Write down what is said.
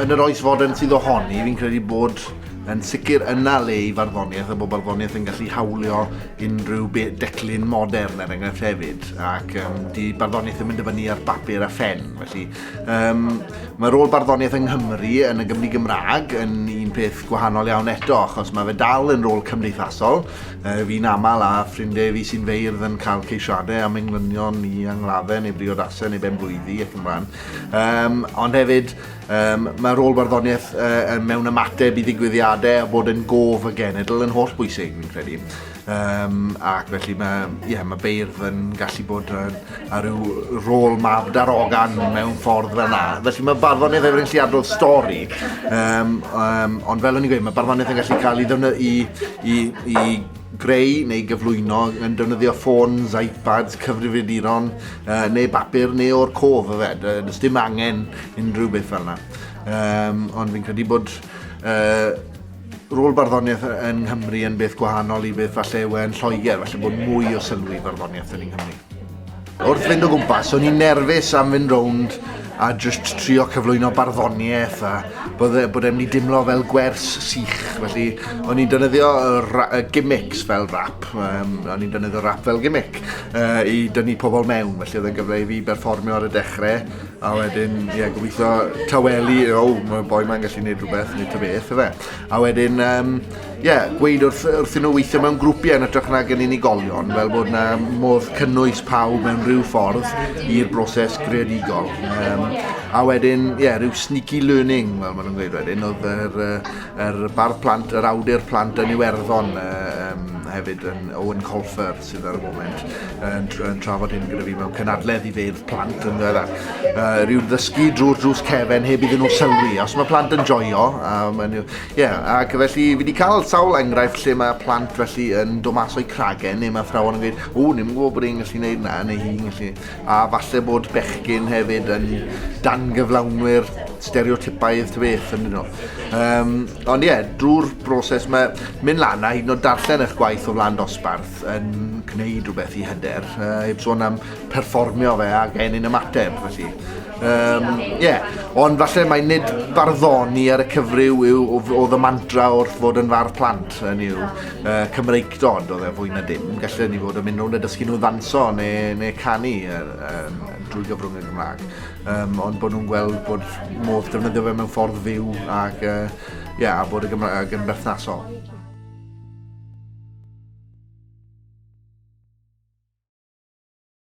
Yn yr oes fodern sydd ohoni, fi'n credu bod yn sicr yna le i farddoniaeth a bod barddoniaeth yn gallu hawlio unrhyw declyn modern er enghraifft hefyd ac um, di barddoniaeth yn mynd i fyny ar bapur a ffen felly um, mae rôl barddoniaeth yng Nghymru yn y Gymru Gymraeg yn un peth gwahanol iawn eto achos mae fe dal yn rôl cymdeithasol Uh, fi'n aml a ffrindiau fi sy'n feirdd yn cael ceisiadau am englynion i angladdau neu briodasau neu ben blwyddi ac yn blaen. Um, ond hefyd, um, mae rôl barddoniaeth uh, mewn ymateb i ddigwyddiadau a bod yn gof y genedl yn holl bwysig, fi'n credu. Um, ac felly mae, yeah, mae beirdd yn gallu bod yn a rhyw rôl mab darogan mewn ffordd fel yna. Felly mae barddoniaeth efo'r lliadrodd stori, um, um, ond fel o'n i'n gweud, mae barddoniaeth yn gallu cael ei ddefnyddio i, i, i greu neu gyflwyno yn defnyddio ffôns, iPads, cyfrifiaduron, uh, neu bapur, neu o'r cof y fed. Uh, does dim angen unrhyw beth fel yna. Um, ond fi'n credu bod uh, rôl barddoniaeth yn Nghymru yn beth gwahanol i beth falle yw e'n Lloegr, falle bod mwy o sylw i barddoniaeth yn Nghymru. Wrth fynd o gwmpas, o'n i'n nerfus am fynd rownd a jyst trio cyflwyno barddoniaeth a bod, e, bod e'n mynd i dimlo fel gwers sych. Felly, o'n i'n dynyddio y gimmicks fel rap, um, o'n i'n dynyddio rap fel gimmick uh, i dynnu pobl mewn. Felly, oedd e'n gyfle i fi berfformio ar y dechrau A wedyn, ie, yeah, gobeithio tawelu, o, oh, mae'r boi mae'n gallu gwneud rhywbeth, neu ta beth, efe. A wedyn, ie, um, yeah, gweud wrth, wrth nhw weithio mewn grwpiau yn ytrach na gen unigolion, fel bod yna modd cynnwys pawb mewn rhyw ffordd i'r broses greadigol. Um, a wedyn, ie, yeah, rhyw sneaky learning, fel maen nhw'n gweud wedyn, oedd yr, yr bar plant, yr awdur plant yn Iwerddon, uh, um, hefyd yn Owen Colfer. sydd ar y foment yn, yn trafod hyn gyda fi mewn cynadledd i feirdd plant yn ddiweddar. Uh, rhyw'n ddysgu drwy'r drws cefen heb iddyn nhw sylwi. Os mae plant yn joio, um, and, yeah, ac felly fi wedi cael sawl enghraifft lle mae plant felly yn dod mas o'i cragen neu mae athrawon yn gweud, o, ni'n gwybod bod e'n gallu gwneud na, neu hi'n gallu. A falle bod bechgyn hefyd yn dangyflawnwyr stereotypaidd ty beth yn nhw. Um, ond ie, yeah, drwy'r broses mae mynd lan a hyd yn oed darllen eich gwaith o flaen dosbarth yn gwneud rhywbeth i hyder. Uh, heb sôn am perfformio fe a gennym ymateb, felly. Um, yeah. Ond falle mae nid barddoni ar y cyfryw yw o, o ddymantra wrth fod yn fardd plant yn yw. uh, Cymreictod oedd e fwy na dim. Gallen ni fod yn mynd rownd a dysgu nhw ddanso neu, neu canu er, um, drwy gyfrwng y Gymraeg. Um, ond bod nhw'n gweld bod modd defnyddio fe mewn ffordd fyw ac, uh, yeah, a bod y Gymraeg yn berthnasol.